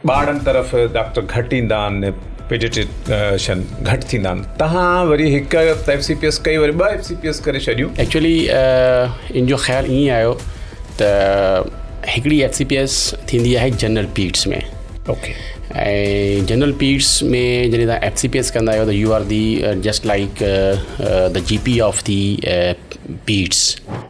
ٻارڙن طرف ڊاڪٽر گهٽ ايندا آهن پيڊيٽرشن گهٽ ٿيندا آهن تهان وري هڪ ايف سي پي ايس ڪئي وري ٻه ايف سي پي ايس ڪري ڇڏيون. ايڪچوئلي ان جو خيال ائين آيو ته هڪڙي ايف سي پي ايس ٿيندي آهي general peds ۾ okay ۽ general peds ۾ جڏهن تهان ايف سي پي ايس ڪندا آهيو ته you are the just like the G P of the peds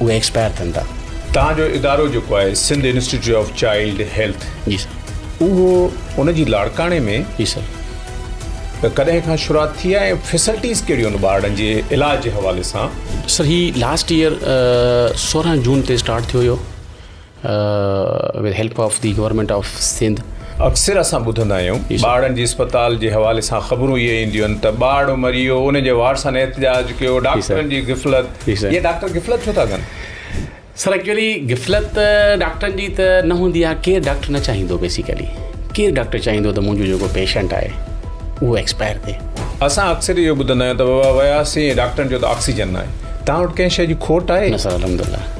اهي ايڪسپائر ٿين ٿا. توهان جو ادارو جيڪو آهي Sindh institute of child health جي سر. اهو ان جي لاڙڪاڻي ۾ جي سر. ڪڏهن کان شروعات ٿي آهي ۽ فيسلٽيز ڪهڙيون آهن ٻارڙن جي علاج جي حوالي سان. سر هي لاسٽ ايئر سورهن جون تي اسٽارٽ ٿيو هيو. With help of the government of Sindh. اڪثر اسان ٻڌندا آهيون ٻارڙن جي اسپتال جي حوالي سان خبرون اهي اينديون آهن ته ٻارڙو مري ويو ان جي وارثن احتجاج ڪيو ڊاڪٽرن جي غفلت اهي ڊاڪٽر غفلت ڇو ٿا ڪن؟ سر ايڪچولي غفلت ڊاڪٽرن جي ته نه هوندي آهي ڪير ڊاڪٽر نه چاهيندو بيسيڪلي ڪير ڊاڪٽر چاهيندو ته منهنجو جيڪو پيشنٽ آهي اهو ايڪسپائر ٿئي. اسان اڪثر اهو ٻڌندا آهيون ته بابا وياسين ڊاڪٽرن چيو ته آڪسيجن ناهي تان وٽ ڪنهن شي جي کوٽ آهي؟ نه سر الحمدالله.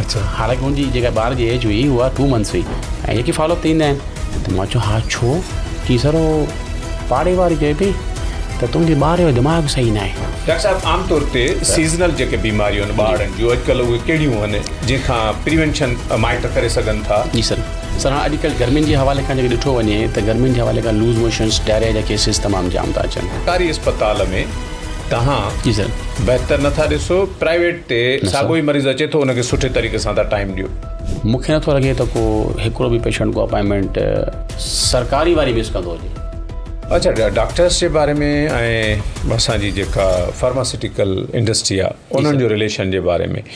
اچا حالانڪ ان جي جيڪا ٻار جي ايج هئي اها ٽو منٿس هئي ۽ جيڪي فالو اپ ٿيندا آهن ته مون چيو ها ڇو چي سر هو پاڙي واري چئي پئي ته تنهنجي ٻار جو دماغ صحيح نه آهي ڊاڪٽر صاحب عام طور تي سيزنل جيڪي بيماريون آهن ٻارڙن جون اڄڪلهه اهي ڪهڙيون آهن جنهن کان پريونشن مائٽ ڪري سگهن ٿا جي سر سر هاڻ اڄڪلهه گرمين جي حوالي کان جيڪي ڏٺو وڃي ته گرمين جي حوالي کان لوز موشنس ڊائريا جا ڪيسز تمام جام ٿا اچن سرڪاري اسپتال ۾ توهان جي سائين بهتر نٿا ڏسو پرائيويٽ تي ساڳو ئي مريض اچي ٿو ان کي سٺي طريقي سان تان ٽائيم ڏيو. مونکي نٿو لڳي ته ڪو هڪڙو به پيشنٽ ڪو اپائنٽمينٽ سرڪاري واري مس ڪندو هجي. اڇا ڊاڪٽرس جي باري ۾ ۽ اسان جي جيڪا فارماسٽيڪل انڊسٽري آ انهن جو رليشن جي باري ۾.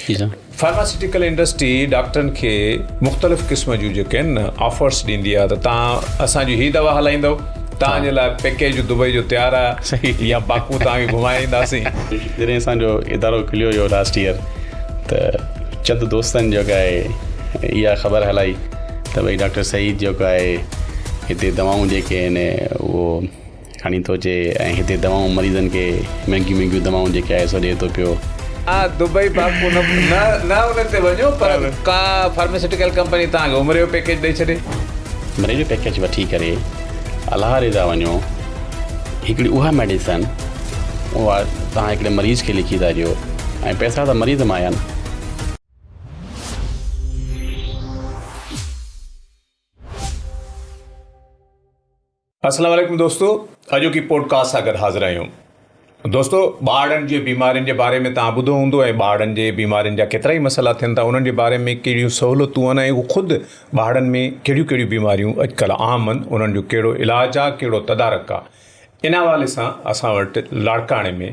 فارماسيوٽيڪل انڊسٽري ڊاڪٽرن کي مختلف قسم جون جيڪي آهن نه آفرس ڏيندي آهي ته تان اسان جي هي دوا هلائيندو تان جي لاء پيڪيج دبئي جو تيار آهي صحيح يا باڪو تان کي گهمائي اينداسين جڏهن اسان جو ادارو کليو هيو لاسٽ ييئر ته چند دوستن جيڪا آهي اها خبر هلائي ته ڀئي ڊاڪٽر سعيد جيڪو آهي هتي دوائون جيڪي آهن اهو کڻي ٿو اچي ۽ هتي دوائون مريضن کي مهنگيون مهنگيون دوائون جيڪي آء ايس او ڏي ٿو پيو. آء دبئي باقو نه نه انهن تي وڃو پر ڪا فارماسيوٽيڪل ڪمپني توهان کي عمري جو پيڪيج ڏئي ڇڏي. عمري جو پيڪيج وٺي ڪري الله رضا وڃو هڪڙي اها ميڊيسن اها توهان هڪڙي مريض کي لکي ٿا ڏيو ۽ پئسا ته مريض مان آيا نه. اسلام عليڪم دوستو اڄوڪي پوڊڪاسٽ سان گڏ حاضر آهيون دوستو ٻارڙن جي بيمارين جي باري ۾ تان ٻڌو هوندو ۽ ٻارڙن جي بيمارين جا ڪيترا ئي مسئلا ٿين ٿا انهن جي باري ۾ ڪهڙيون سهولتون آهن ۽ خود ٻارڙن ۾ ڪهڙيون ڪهڙيون بيماريون اڄڪلهه عام آهن انهن جو ڪهڙو علاج آهي ڪهڙو تدارڪ آهي ان حوالي سان اسان وٽ لاڙڪاڻي ۾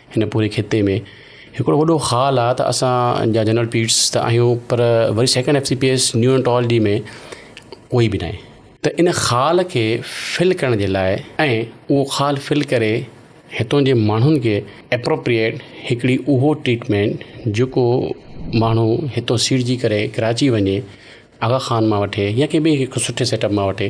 هن پوري خطي ۾ هڪڙو وڏو خال آ ته اسان جا جنرل پيٽس ته آهيون پر وري second F C P S neonatology ۾ ڪوئي به ناهي ته ان خال کي فل ڪرڻ جي لاء ۽ اهو خال فل ڪري هتون جي ماڻهن کي اپروپريئيٽ هڪڙي اهو ٽريٽمينٽ جيڪو ماڻهو هتو سيڙجي ڪري ڪراچي وڃي آغا خان مان وٺي يا ڪنهن به هڪ سٺي سيٽ اپ مان وٺي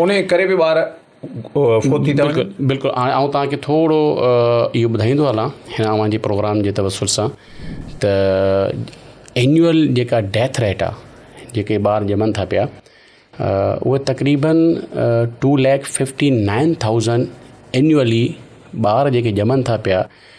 انهيء ڪري به ٻار فوت ٿي ٿا وڃن. بلڪل بلڪل هاڻي آئون توهان کي ٿورو اهو ٻڌائيندو هلان هن اوهان جي پروگرام جي توسل سان ته اينيول جيڪا ڊيٿ ريٽ آهي جيڪي ٻار ڄمن ٿا پيا اهي تقريبن two lakh fifty nine thousand annually ٻار جيڪي ڄمن ٿا پيا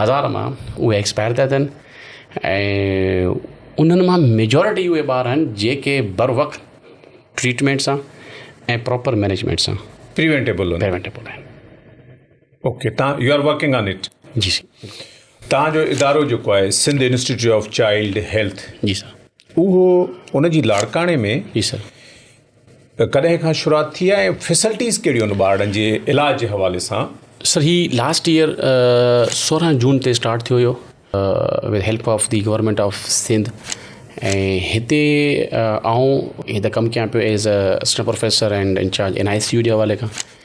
هزار مان اهي ايڪسپائر ٿيا ٿين ۽ انهن مان ميجورٽي اهي ٻار آهن جيڪي بر وقت ٽريٽمينٽ سان ۽ پراپر مينيجمينٽ سان پريوينٽيبل آهن پريوينٽيبل آهن اوڪي تان you are working on it جي سر تان جو ادارو جيڪو آهي Sindh institute of child health جي سر اهو ان جي لاڙڪاڻي ۾ جي سر ڪڏهن کان شروعات ٿي آهي ۽ فيسلٽيز ڪهڙيون آهن ٻارڙن جي علاج جي حوالي سان؟ سر هي لاسٽ ايئر سورهن جون تي اسٽارٽ ٿيو هيو with help of the government of Sindh ۽ هتي آئون هتي ڪم ڪيان پيو as a assistant professor and incharge N I C U جي حوالي کان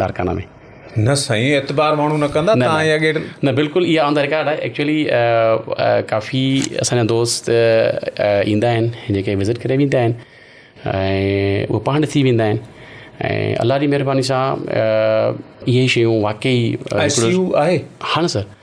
لاڙڪانا ۾. نه سائين اعتبار ماڻهو نه ڪندا تان اهي اڳي. نه بلڪل اها آن دا رڪارڊ آهي ايڪچلي ڪافي اسان جا دوست ايندا آهن جيڪي وزٽ ڪري ويندا آهن ۽ هو پاڻ ڏسي ويندا آهن ۽ الله جي مهرباني سان اهي شيون واقعي آء سي يو آهي هاڻ سر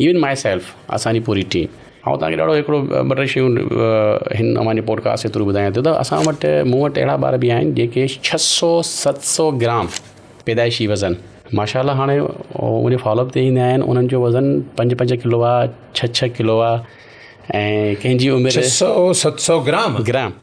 ايون ماء سيلف اسان جي پوري ٽيم آئون توهان کي ڏاڍو هڪڙو ٻه ٽي شيون هن اوهان جي پوڊڪاسٽ جي ٿرو ٻڌايان ٿو ته اسان وٽ مون وٽ اهڙا ٻار به آهن جيڪي ڇهه سو ست سو گرام پيدائشي وزن ماشا الله هاڻي منهنجي فالو اپ تي ايندا آهن انهن جو وزن پنج پنج ڪلو آهي ڇهه ڇهه ڪلو آهي ۽ ڪنهن جي عمر ڇهه سو ست سو گرام گرام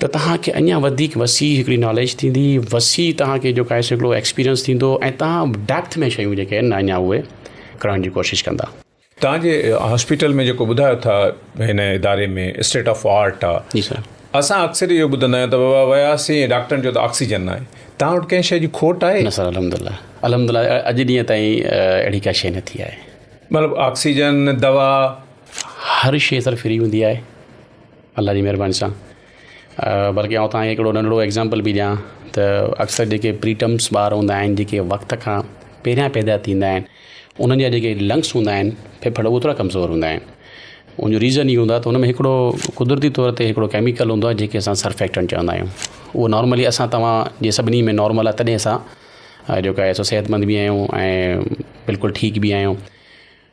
ته توهان کي اڃا وڌيڪ وسيع هڪڙي ناليج ٿيندي وسيع توهان کي جو کائي سگهڙو ايڪسپيرينس ٿيندو ۽ توهان ڊيپٿ ۾ شيون جيڪي آهن اڃا اهي ڪرڻ جي ڪوشش ڪندا. توهان جي هاسپيٽل ۾ جيڪو ٻڌايو ٿا هن اداري ۾ اسٽيٽ آف آرٽ آ جي سر اسان اڪثر اهو ٻڌندا آهيون ته بابا وياسين ڊاڪٽرن چيو ته آڪسيجن ناهي توهان وٽ ڪنهن شي جي کوٽ آهي؟ نه سر الحمدلله الحمدلله اڄ ڏينهن تائين اهڙي ڪا شي نه ٿي آهي. مطلب آڪسيجن دوا. هر شي سر فري هوندي آهي. الله جي مهرباني سان بلڪه آئون تهانکي هڪڙو ننڍڙو ايگزامپل به ڏيان ته اڪثر جيڪي پري ٽرمس ٻار هوندا آهن جيڪي وقت کان پهريان پيدا ٿيندا آهن انهن جا جيڪي لنگس هوندا آهن ڦڦڙ اهي ٿورا ڪمزور هوندا آهن انهو ريزن اهو هوندو آهي ته انهن ۾ هڪڙو قدرتي طور تي هڪڙو ڪيميڪل هوندو آهي جيڪي اسان سرفيڪٽنٽ چوندا آهيون اهو نارملي اسان توهان جي سڀني ۾ نارمل آهي تڏهن اسان جيڪو آهي سو صحت مند به آهيون ۽ بلڪل ٺيڪ به آهيون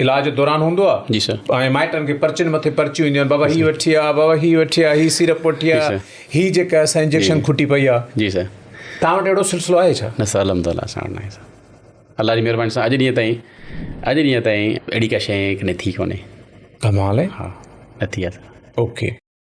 علاج دوران هوندو آ جي سر ۽ مائٽن کي پرچين مٿي پرچيون اينديون آهن بابا هي وٺي آ بابا هي وٺي آ هي سيرپ وٺي آ هي جيڪا اسان انجيڪشن کٽي پئي آ جي سر تان وٽ اهڙو سلسلو آهي ڇا نه سر الحمدالله اسان وٽ ناهي سر الله جي مهرباني سان اڄ ڏينهن تائين اڄ ڏينهن تائين اهڙي ڪا شيء ڪڏهن ٿي ڪونهي ڪمال آهي ها نه ٿي آ سر اوڪي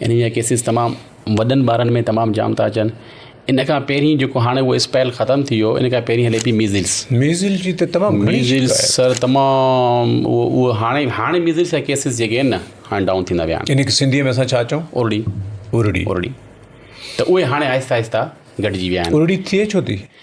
ان جا ڪيسز تمام وڏن ٻارن ۾ تمام جام ٿا اچن ان کان پهرين جيڪو هاڻي اهو اسپيل ختم ٿي ويو ان کان پهرين هلي پئي ميزلس ميزل جي ته تمام گهڻي ميزلس شڪايت سر تمام اهو اهو هاڻي هاڻي ميزلس جا ڪيسز جيڪي آهن نه هاڻي ڊائون ٿيندا ويا آهن ان کي سنڌيء ۾ اسان ڇا چئون اورڙي ارڙي اورڙي ته اهي هاڻي آهستي آهستي گهٽجي ويا آهن ارڙي ٿئي ڇو ٿي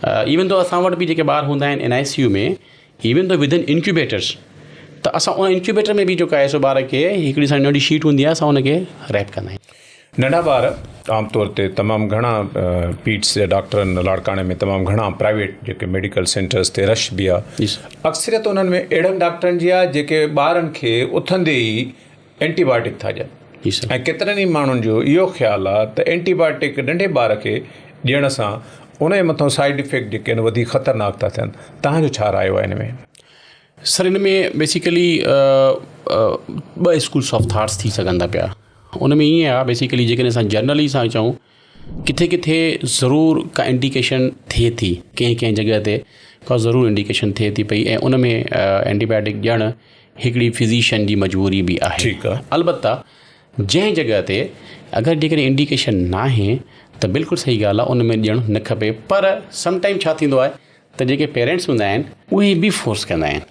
ايون ٿو اسان وٽ به جيڪي ٻار هوندا آهن ان آء سي يو ۾ ايون ٿو وڌن انڪيوبيٽرس ته اسان ان انڪيوبيٽر ۾ به جيڪو آهي سو ٻار کي هڪڙي سان ننڍي شيٽ هوندي آهي اسان ان کي ريپ ڪندا آهيون ننڍا ٻار عام طور تي تمام گهڻا پيٽس جا ڊاڪٽرن لاڙڪاڻي ۾ تمام گهڻا پرائيويٽ جيڪي ميڊيڪل سينٽرس تي رش به آهي اڪثريت انهن ۾ اهڙن ڊاڪٽرن جي آهي جيڪي ٻارن کي اٿندي ئي اينٽي بائيوٽڪ ٿا ڏين ۽ ڪيترن ئي ماڻهن جو اهو خيال آهي ته اينٽي بائيوٽڪ ننڍي ٻار کي ڏيڻ سان ان جي مٿان سائيڊ افيڪٽ جيڪي آهن وڌيڪ خطرناڪ ٿا ٿين تنهن جو ڇا رايو آهي ان ۾؟ سر ان ۾ بيسيڪلي ٻه اسڪولس آف ٿاٽس ٿي سگهن ٿا پيا ان ۾ ائين آهي بيسيڪلي جيڪڏهن اسان جنرلي سان چئون ڪٿي ڪٿي ضرور ڪا انڊيڪيشن ٿئي ٿي ڪنهن ڪنهن جڳهه تي ڪا ضرور انڊيڪيشن ٿئي ٿي پئي ۽ ان ۾ اينٽي بايوٽڪ ڄڻ هڪڙي فزيشن جي مجبوري به آهي البته جنهن جڳهه تي اگر جيڪڏهن انڊيڪيشن ناهي ته بلڪل صحيح ڳالهه آهي ان ۾ ڏيڻ نه کپي پر سم ٽائيم ڇا ٿيندو آهي ته جيڪي پيرنٽس هوندا آهن اهي به فورس ڪندا آهن.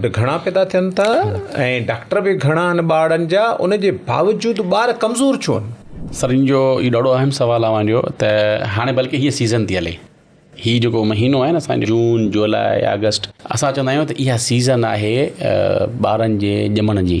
به گهڻا پيدا ٿين ٿا ۽ ڊاڪٽر به گهڻا آهن ٻارڙن جا ان جي باوجود ٻار ڪمزور ڇو آهن؟ سر ان جو هي ڏاڍو اهم سوال آهي اوهان جو ته هاڻي بلڪه هي سيزن ٿي هلي هي جيڪو مهينو آهي نه اسان جو جون جولاء آگسٽ اسان چوندا آهيون ته اها سيزن آهي ٻارن جي ڄمڻ جي.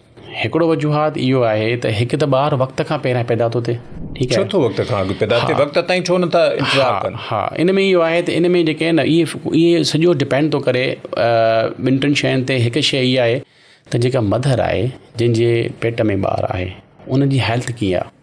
هڪڙو وجوهات اهو آهي ته هڪ ته ٻار وقت کان پهريان پيدا ٿو ٿئي ٺيڪ آهي ڇو ٿو وقت کان اڳ پيدا ٿئي وقت تائين ڇو نٿا انتظار ڪن ها ها ان ۾ اهو آهي ته ان ۾ جيڪي آهن اهي اهي سڄو ڊپينڊ ٿو ڪري ٻن ٽن شين تي هڪ شي اها آهي ته جيڪا مڌر آهي جنهنجي پيٽ ۾ ٻار آهي ان جي هيلٿ ڪيئن آهي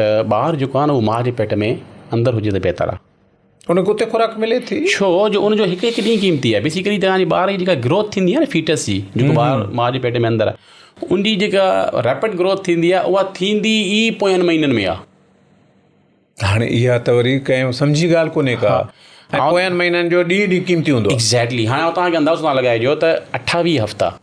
ته ٻار جيڪو آهي نه اهو ماء جي پيٽ ۾ اندر هجي ته بهتر آهي ان کي اتي خوراڪ ملي ٿي ڇو جو ان جو هڪ هڪ ڏينهن قيمتي آهي بيسڪلي توهانجي ٻار جي جيڪا گروٿ ٿيندي آهي نه فيٽس جي جيڪو ٻار ماء جي پيٽ ۾ اندر آهي ان جي جيڪا ريپڊ گروٿ ٿيندي آهي اها ٿيندي ئي پويان مهينن ۾ آهي ته هاڻي اها ته وري ڪنهن سمجهي ڳالهه ڪونهي ڪا ۽ پويان مهينن جو ڏينهن ڏينهن قيمتي هوندو آهي ايگزيڪٽلي هاڻي آئون توهان کي اندازو ٿو لڳائجو ته اٺاويهه هفتا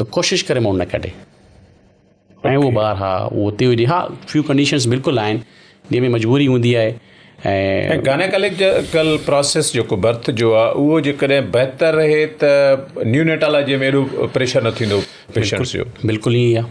ته ڪوشش ڪري مون نه ڪڍي ۽ اهو ٻار ها اهو اتي هجي ها فيو ڪنڊيشنس بلڪل آهن جنهن ۾ مجبوري هوندي آهي ۽ گانيڪاليڪل پروسيس جيڪو برٿ جو آهي اهو جيڪڏهن بهتر رهي ته نيونيٽالاجي ۾ اهڙو پريشر نه ٿيندو پيشنٽس جو بلڪل ائين ئي آهي.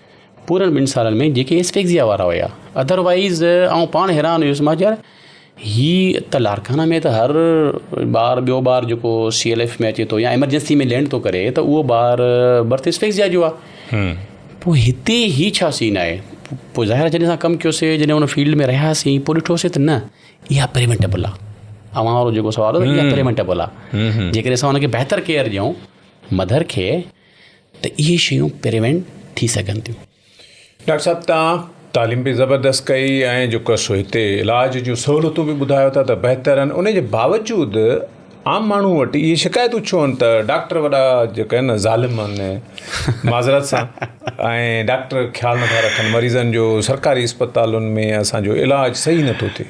پورن ٻن سالن ۾ جيڪي اسفيگزيا وارا هيا اڌر وائيز آئون پاڻ حيران هيس مان چيو هي ته لارڪانا ۾ ته هر ٻار ٻيو ٻار جيڪو سي ايل ايف ۾ اچي ٿو يا ايمرجنسي ۾ لينڊ ٿو ڪري ته اهو ٻار برٿ اسفيگزيا جو آهي پوء هتي هي ڇا سين آهي پوء ظاهر جڏهن اسان ڪم ڪيوسي جڏهن ان فيلڊ ۾ رهياسين پوء ڏٺوسي ته نه اها پريونٽيبل آهي اوهان وارو جيڪو سوال هو اها پريونٽيبل آهي جيڪڏهن اسان ان کي بهتر ڪيئر ڏيون مڌر کي ته اهي شيون پريوينٽ ٿي سگهن ٿيون. ڊاڪٽر صاحب توهان تعليم به زبردست ڪئي ۽ جيڪو سو هتي علاج جون سهولتون به ٻڌايو ٿا ته بهتر آهن ان جي باوجود عام ماڻهو وٽ اهي شڪايتون ڇو آهن ته ڊاڪٽر وڏا جيڪا آهن نه ظالم آهن معذرت سان ۽ ڊاڪٽر خيال نٿا رکن مريضن جو سرڪاري اسپتالن ۾ اسان جو علاج صحيح نٿو ٿئي.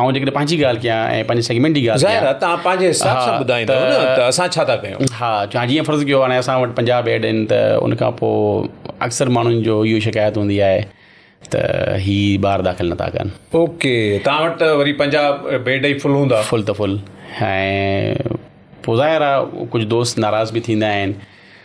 آئون جيڪڏهن پنهنجي ڳالهه ڪيان ۽ پنهنجي سيگمينٽ جي ڳالهه ڪيان ظاهر آهي توهان پنهنجي حساب سان ٻڌائيندو نه ته اسان ڇا ٿا ڪيون ها ها جيئن فرض ڪيو هاڻي اسان وٽ پنجاهه بيڊ آهن ته ان کان پوء اڪثر ماڻهن جو اهو شڪايت هوندي آهي ته هي ٻار داخل نٿا ڪن اوڪي توهان وٽ ته وري پنجاهه بيڊ ئي فل هوندا فل ته فل ۽ پوء ظاهر آهي ڪجهه دوست ناراض به ٿيندا آهن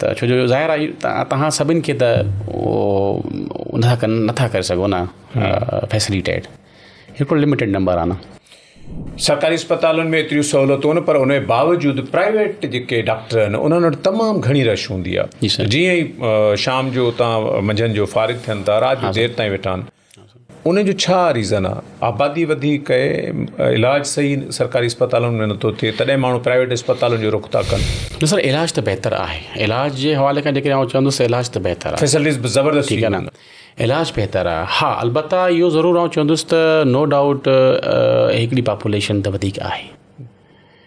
ته ڇو جو ظاهر آهي توهان سڀني کي ته ان کان ڪن نٿا ڪري سگهو نه فيسليٽيٽ هڪڙو لمٽيڊ نمبر آهي نه سرڪاري اسپتالن ۾ ايتريون سهولتون نه پر ان جي باوجود پرائيويٽ جيڪي ڊاڪٽر آهن انهن وٽ تمام گهڻي رش هوندي آهي جيئن ئي شام جو اتان منجهند جو فارغ ٿين ٿا رات جو دير تائين ويٺا آهن ان جو ڇا ريزن آ آبادي وڌي ڪئي علاج صحيح سرڪاري اسپتالن ۾ نٿو ٿئي تڏهن ماڻهو پرائيويٽ اسپتالن جو رخ ٿا ڪن. نه سر علاج ته بهتر آهي علاج جي حوالي کان جيڪڏهن آئون چوندس ته علاج ته بهتر آهي فيسلٽيز به زبردست ٺيڪ آهي نه علاج بهتر آهي ها البته اهو ضرور آئون چوندس ته نو ڊائوٽ هڪڙي پاپوليشن ته وڌيڪ آهي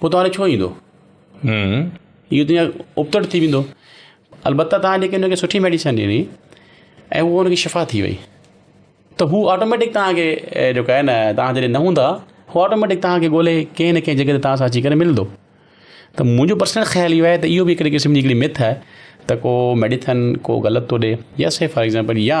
پوء توهان ڏي ڇو ايندو؟ اهو ته ڄڻ ابتڙ ٿي ويندو. البته توهان جيڪي هن کي سٺي ميڊيسن ڏني ۽ هو هن کي شفا ٿي وئي ته هو آٽوميٽڪ توهان کي جيڪو آهي نه توهان جڏهن نه هوندا هو آٽوميٽڪ توهان کي ڳولي ڪنهن نه ڪنهن جڳهه تي توهان سان اچي ڪري ملندو ته منهنجو پرسنل خيال اهو آهي ته اهو به هڪڙي قسم جي هڪڙي مٿ آهي ته ڪو ميڊيسن ڪو غلط ٿو ڏي يا سي فار ايگزامپل يا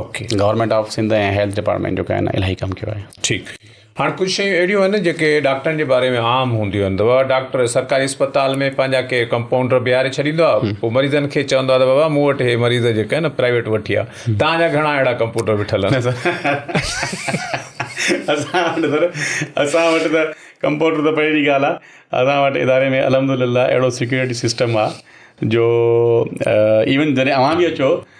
okay government of Sindh ۽ health department جو ڪائنه الاهي ڪم ڪيو آهي ٺيڪ هاڻ ڪجهه شيون اهڙيون آهن جيڪي ڊاڪٽرن جي باري ۾ عام هونديون آهن ته بابا ڊاڪٽر سرڪاري اسپتال ۾ پنهنجا ڪي ڪمپائونڊر بيهاري ڇڏيندو آهي پوء مريضن کي چوندو آهي ته بابا مون وٽ هي مريض جيڪا آهن پرائيويٽ وٺي آ تهانجا گهڻا اهڙا ڪمپوٽر بيٺل آهن اسان وٽ سر اسان وٽ ته ڪمپوٽر ته پري جي ڳالهه آهي اسان وٽ اداري ۾ الحمد لله اهڙو سيڪيورٽي سسٽم آهي جو ايون جڏهن اوهان به اچو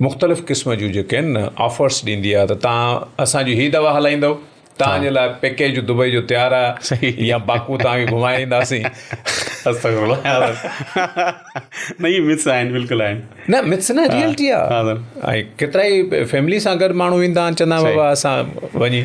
مختلف قسم جون جيڪي آهن نه آفرس ڏيندي آهي ته تان اسان جي هي دوا هلائيندو تان جي لاء پيڪيج دبئي جو تيار آهي صحيح يا باڪو تان کي گهمائي اينداسين استغفر الله نه مس آهن بالکل آهن نه مس نه ريئلٽي آهي ۽ ڪيترائي فيملي سان گڏ ماڻهو ويندا آهن چندا بابا اسان وڃي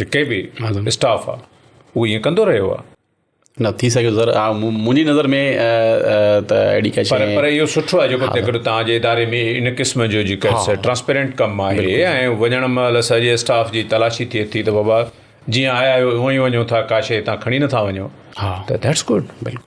جيڪي به اسٽاف آ هو ائين ڪندو رهيو آ. نه ٿي سگهيو سر منهنجي نظر ۾ ته اهڙي ڪا شيء پر پر اهو سٺو آهي جيڪو تڪڙو توهان جي اداري ۾ ان قسم جو جيڪا ٽرانسپيرنٽ ڪم آهي ۽ وڃڻ مهل سڄي اسٽاف جي تلاشي ٿئي ٿي ته بابا جيئن آيا آهيو اهو ئي وڃو ٿا ڪا شيء هتان کڻي نٿا وڃو ته ڌيٽس گڊ بلڪل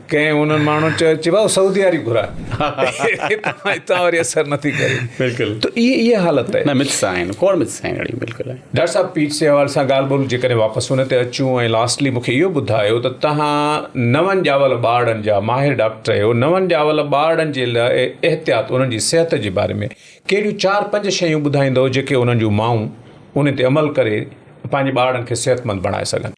ڪنهن انهن ماڻهن چيو چي ڀائو سعودي واري گهراء هتان وري اثر نه ٿي ڪري بلڪل ته اهي اهي حالت آهي نه مٿس آهن کوڙ مٿس آهن اڙي بلڪل آهن ڊاڪٽر صاحب پيٽس جي حوالي سان ڳالهه ٻولهه جيڪڏهن واپس ان تي اچون ۽ لاسٽلي مونکي اهو ٻڌايو ته تهان نون ڄاول ٻارڙن جا ماهر ڊاڪٽر آهيو نون ڄاول ٻارڙن جي لاء احتياط انهن جي صحت جي باري ۾ ڪهڙيون چار پنج شيون ٻڌائيندؤ جيڪي انهن جون مائون ان تي عمل ڪري پنهنجي ٻارڙن کي صحتمند بڻائي سگهن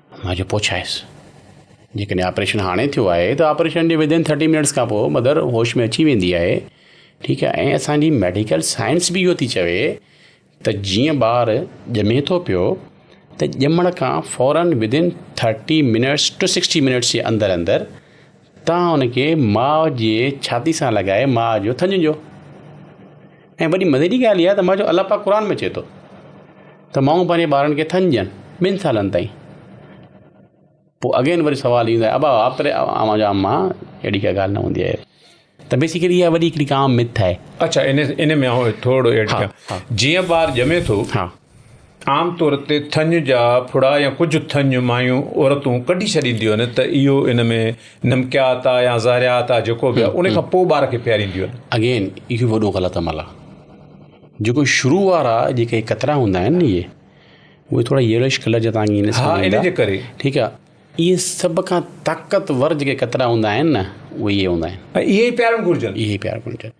ماء جو پڇايس جيڪڏهن آپريشن هاڻي ٿيو آهي ته آپريشن جي ودن ٿرٽي منٽس کان پوء مدر هوش ۾ اچي ويندي آهي ٺيڪ آهي ۽ اسانجي ميڊيڪل سائنس به اهو ٿي چوي ته جيئن ٻار ڄمي ٿو پيو ته ڄمڻ کان فورن within thirty minutes to sixty minutes جي اندر اندر توهان هن کي ماء جي ڇاتي سان لڳائي ماء جو ٿڃ ڏيو ۽ وڏي مزي جي ڳالهه اها ته ماء جو الله پاڪ قرآن ۾ چئي ٿو ته مائون پنهنجي ٻارن کي ٿڃ ڏين ٻن سالن تائين پوء اگين وري سوال ايندو آهي ابا آپري اوهان جا اما اهڙي ڪا ڳالهه نه هوندي آهي ته بيسيڪلي اها وڏي هڪڙي عام مٿ آهي اڇا ان ان ۾ آئون ٿورڙو ايڊ ڪيان جيئن ٻار ڄمي ٿو عام طور تي ٿڃ جا ڦڙا يا ڪجهه ٿڃ مايون عورتون ڪڍي ڇڏينديون آهن ته اهو ان ۾ نمڪيات آهي يا ذاريات آهي جيڪو به آهي ان کان پوء ٻار کي پيارينديون آهن. اگين اهو وڏو غلط عمل آهي جيڪو شروع وارا جيڪي قطرا هوندا آهن اهي اهي ٿورا ييلوش ڪلر جا توهان کي نظر ايندا ها ان جي ڪري ٺيڪ آهي اهي سڀ کان طاقتور جيڪي قطرا هوندا آهن نه اهي هوندا آهن ۽ اهي ئي پيارڻ گهرجن اهي ئي پيارڻ گهرجن.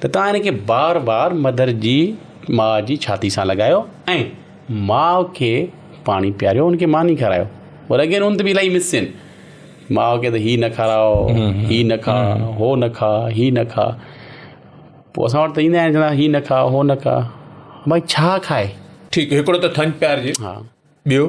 ته توهان هن کي بار بار مڌر جي ماء جي ڇاتي سان لڳايو ۽ ماء کي پاڻي پياريو ان کي ماني کارايو اور اگين ان ته بي الائي مسين ماء کي ته هي نه کاراء هي نه کاء هو نه کاء هي نه کاء پوء اسان وٽ ته ايندا آهن چوندا هي نه کاء هو نه کاء ڀائي ڇا کائي ٺيڪ هڪڙو ته ٿڃ پيارجي ها ٻيو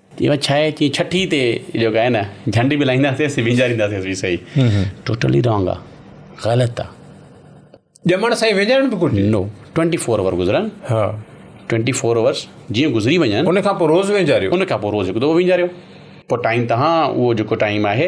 ايون ڇا آهي چي ڇٺي تي جيڪو آهي نه جهنڊ به لائينداسين سي وينجارينداسين به سهي ٽوٽلي رانگ آ غلط آ ڄمڻ سائين وينجارڻ به گهرجي نو ٽوئنٽي فور آور گذرن ها ٽوئنٽي فور آورس جيئن گذري وڃن ان کان پوء روز وينجاريو ان کان پوء روز هڪ دفعو وينجاريو پوء ٽائيم تهان اهو جيڪو ٽائيم آهي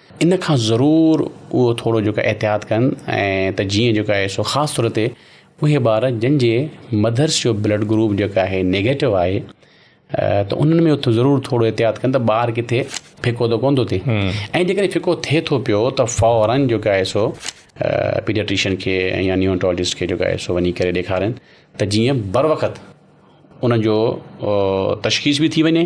ان کان ضرور اهو ٿورو جيڪو احتياط ڪن ۽ ته جيئن جيڪو آهي سو خاص طور تي اهي ٻار جن جي مڌرس جو بلڊ گروپ جيڪو آهي نيگيٽو آهي ته انهن ۾ اٿ ضرور ٿورو احتياط ڪن ته ٻار ڪٿي ڦڪو ته ڪون ٿو ٿئي ۽ جيڪڏهن ڦڪو ٿئي ٿو پيو ته فورن جيڪو آهي سو پيڊياٽريشن کي يا نيونٽالجسٽ کي جيڪو آهي سو وڃي ڪري ڏيکارن ته جيئن بر وقت ان جو تشخيص بي ٿي وڃي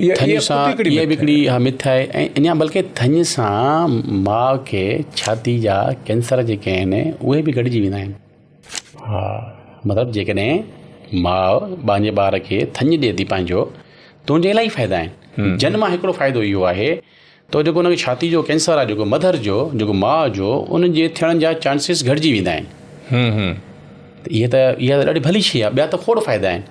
ٿڃ سان اها به هڪڙي مٿ آهي ۽ اڃا بلڪه ٿڃ سان ماء کي ڇاتي جا ڪينسر جيڪي آهن اهي به گڏجي ويندا آهن ها مطلب جيڪڏهن ماء پنهنجي ٻار کي ٿڃ ڏي ٿي پنهنجو ته ان جا الاهي فائدا آهن جن مان هڪڙو فائدو اهو آهي ته جيڪو ان کي ڇاتي جو ڪينسر آهي جيڪو مڌر جو جيڪو ماء جو ان جي ٿيڻ جا چانسز گهٽجي ويندا آهن اها ته اها ته ڏاڍي ڀلي شي آهي ٻيا ته کوڙ فائدا آهن